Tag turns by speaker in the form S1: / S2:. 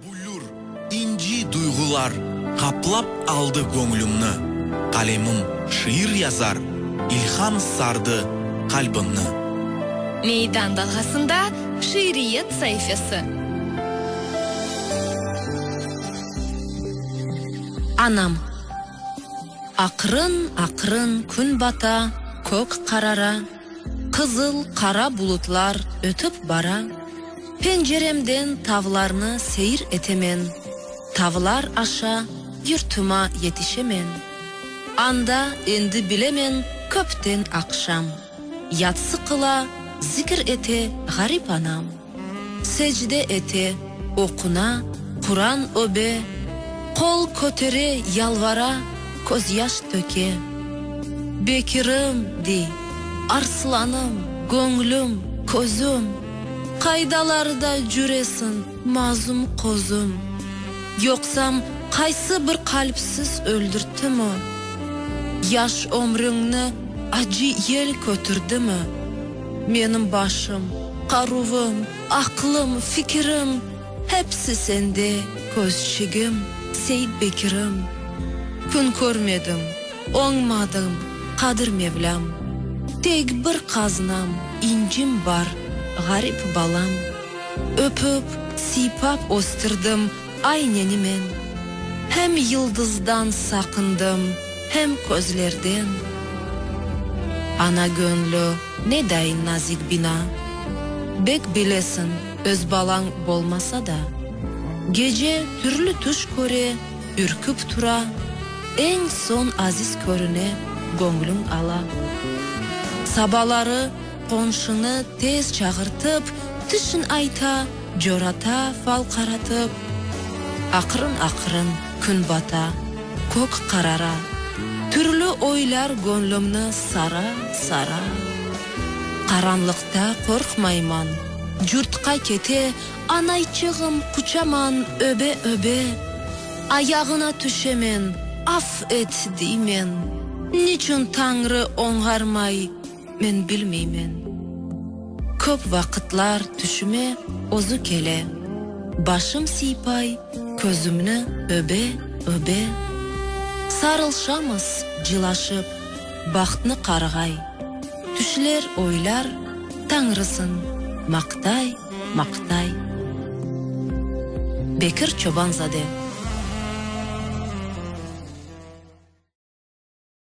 S1: Büllür, inci duyğular qaplap aldı göñlümni, Qalemim şiir yazar, ilham sardı qalbimni.
S2: Meydan dalğasında şiiriyet saifesi. Anam. Aqrın-aqrın kün bata, kök qarara, Qızıl, qara bulutlar ötip bara. Penceremden tavlarnı seyir etemen, Tavlar aşa yurtıma yetişemen. Anda, endi bilemen, köpten aqşam, Yatsı qıla, zikir ete ğarip anam. Secde ete, oquna, Quran öbe, Qol kötere, yalvara, közyaş töke. Bekirim, dey, arslanım, göñlüm, közüm, Qaydalarda cüresiñ, mazum qozum? Yoqsam, qaysı bir qalpsiz öldürttimi? Yaş ömrüñni acı yel kötürdimi? Menim başım, qaruvım, aqlım, fikirim, Hepsi sende, közçigim, Seit Bekirim. Kün körmedim, oñmadım, Qadir Mevlam. Tek bir qaznam, incim bar, Ğarip balam. Öpüp, siypap östirdim, Ay neni men. Hem yıldızdan saqındım. Hem közlerden. Ana göñlü nedayin nazik bina. Bek bilesiñ, öz balañ bolmasa da. Gece türlü tüş köre, ürküp tura, Eñ soñ aziz körüne göñlüñ ala. Sabaları qonşını tez çağırtıp, tişin ayta. Corata fal qaratıp, aqırın-aqırın kün bata, kök qarara, türlü oylar göñlümni sara, sara. Qaranlıqta qorqmayman, curtqa kete, anayçığım quçaman öbe, öbe. Ayağına tüşemen, af et, deymen, niçün Tañrı oñğarmay, Men bilmeymen. Köp vaqıtlar tüşüme özü kele. Başım siypay, közümni öbe, öbe. Sarılşamız cılaşıp, bahtnı qarğay. Tüşler oylar, Tañrısın maqtay, maqtay. Bekir Çobanzade.